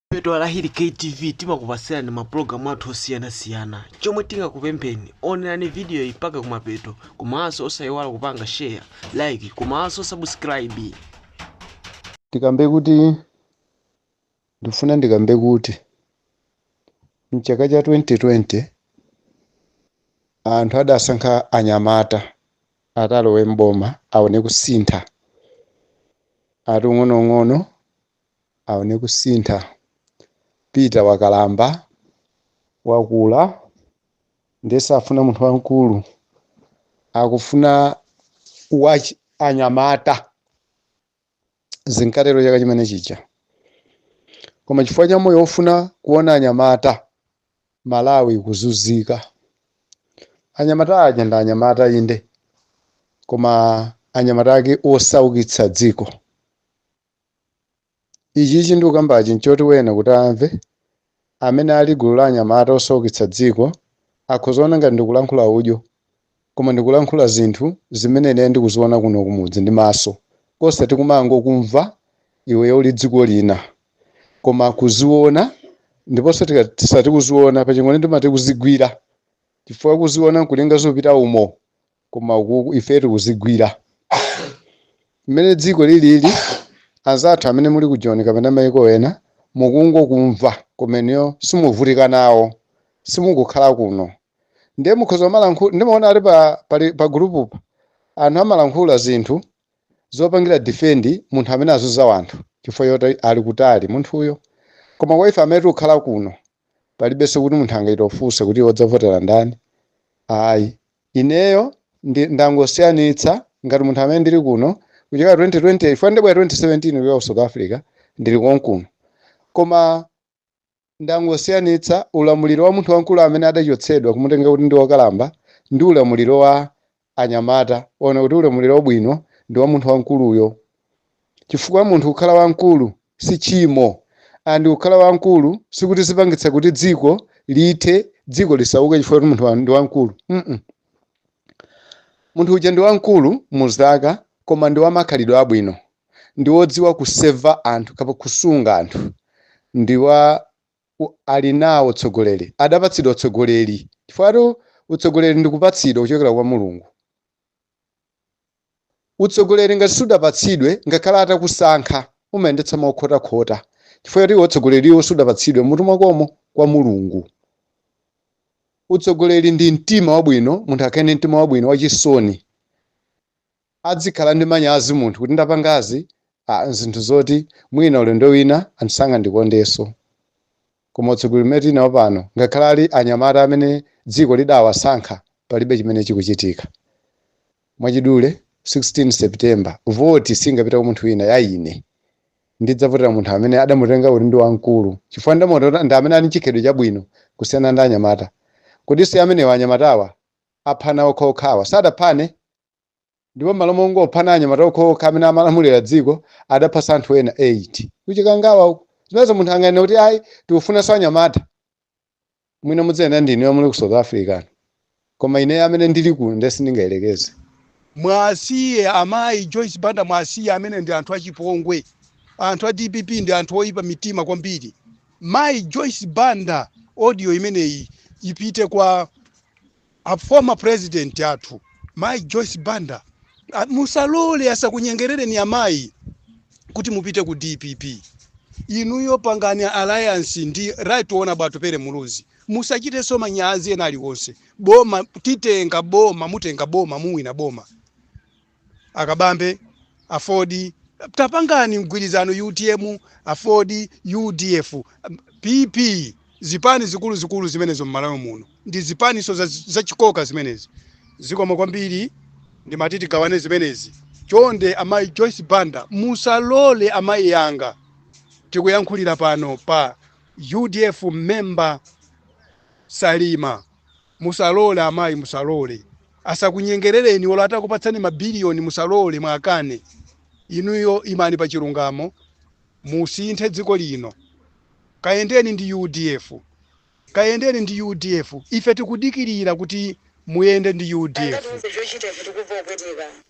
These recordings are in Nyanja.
Pano pa Hili KTV timakupasirani mapulogalamu athu osiyanasiyana chomwe tingakupempheni onerani video iyi mpaka kumapeto komanso osayiwala kupanga share like komanso subscribe ndikambe kuti ndifuna ndikambe kuti mchaka cha 2020 anthu adasankha anyamata atalowe mboma aone kusintha ati ang'onoang'ono aone kusintha. Peter wakalamba, wakula ndiye safuna munthu wamkulu, akufuna wachinyamata. Zinkatero chaka chimene chija, koma chifukwa cha moyo wofuna kuona anyamata, Malawi ikuzunzika. Anyamata aja ndi anyamata inde, koma anyamata ake osaukitsa dziko. Ichichi ndikukambachi nchoti wina kuti amve amene ali gulu la anyamata osaukitsa dziko akhoza kuona ngati ndikulankhula udyo koma ndikulankhula zinthu zimene ineyo ndikuziona kuno kumudzi ndi maso osati kumangokumva iweyo uli dziko lina koma kuziona ndiponso tikasati kuziona pa Chingoni timati kuzigwira chifukwa kuziona nkulinga zopita umo koma uku ife tikuzigwira mmene dziko lilili anzathu amene muli ku Joni kapena maiko ena mukungokumva kumeneko simuvutika nawo simukukhala kuno ndiye mukhoza kumalankhula ndimaona ali pa, pali- pa gulupu pa anthu amalankhula zinthu zopangira defendi munthu amene akuzunza anthu chifukwa choti ali kutali munthuyo koma kwa ife amene tikukhala kuno palibenso kuti munthu angatifunse kuti iwe udzavotera ndani ayi Ineyo ndangosiyanitsa ngati munthu amene ndili kuno kuchokera 2020 chifukwa ndabwera 2017 kuchoka ku South Africa ndili konkuno. Koma ndangosiyanitsa ulamuliro wa munthu wamkulu amene adachotsedwa kumutenga kuti ndi wokalamba ndi ulamuliro wa anyamata. Ndaona kuti ulamuliro wabwino ndi wa munthu wamkuluyo. chifukwa munthu kukhala wamkulu si tchimo and kukhala wamkulu sikuti zipangitsa kuti dziko lithe, dziko lisauke chifukwa kuti munthu ndi wamkulu mm munthu uja ndi wamkulu mu zaka koma ndi wamakhalidwe abwino ndi wodziwa kuseva anthu kapa kusunga anthu ndi wa u- ali nawo utsogoleri adapatsidwa utsogoleri chifukwatu utsogoleri ndi kupatsidwa kuchokera kwa mulungu Utsogoleri ngati sudapatsidwe ngakhale atakusankha umayendetsa mokhotakhota chifukwa choti utsogoleriwo sudapatsidwe mmutu mwakomo kwa Mulungu. Utsogoleri ndi mtima wabwino munthu akhale ndi mtima wabwino wachisoni adzikhala ndi manyazi munthu kuti ndapangazi ah, zinthu zoti mwina ulendo wina anthu sangandikondenso. Koma utsogoleri umene tili nawo pano, ngakhale ali anyamata amene dziko lidawasankha, palibe chimene chikuchitika. Mwachidule, 16 September, voti singapite kwa munthu wina, ya ine. Ndidzavotera munthu amene adamutenga kuti ndi wamkulu chifukwa ndidamuona kuti ndi amene ali ndi chikhalidwe chabwino kusiyana ndi anyamata. Kodi si amenewa anyamatawa? Aphana okhaokhawa sadaphane? ndipo m'malo mongophana anyamata okhaokha amene amalamulira dziko adaphanso anthu ena 8 kuchikangawa uku zimenezo munthu anganene kuti ayi tikufunanso anyamata mwina muziyenda ndi inuyo muli ku south africa koma ineyo amene ndili kuno ndiye sindingayerekeze muwasiye amayi joyce banda muwasiye amenewo ndi anthu achipongwe anthu a dpp ndi anthu oyipa mitima kwambiri mayi joyce banda audio imeneyi ipite kwa A former president athu mayi Joyce Banda musalole asakunyengerereni amayi kuti mupite ku dpp. Inuyo pangani alliance ndi Right Honourable Atupele Muluzi musachitenso manyazi ena aliwonse. Boma titenga boma mutenga boma muwina boma. a Kabambe, aford, tapangani mgwirizano utm, aford, udf, PP, zipani zikuluzikulu zimenezi mmalawi muno ndi zipaninso za, za chikoka zimenezi. Zikomo kwambiri ndimati tigawane zimenezi. Chonde amayi Joyce Banda musalole amayi anga tikuyankhulira pano pa udf member Salima. Musalole amayi musalole. Asakunyengerereni olo atakupatsani ma billion musalole muakane. Inuyo imani pa chilungamo musinthe dziko lino. Kayendeni ndi udf. Kayendeni ndi udf. Ife tikudikirira kuti muyende ndi udf. katiuze chochita ife tikumva kupweteka.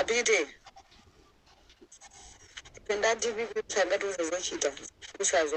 apite ife ndi a dpp sangatiuze zochita usazo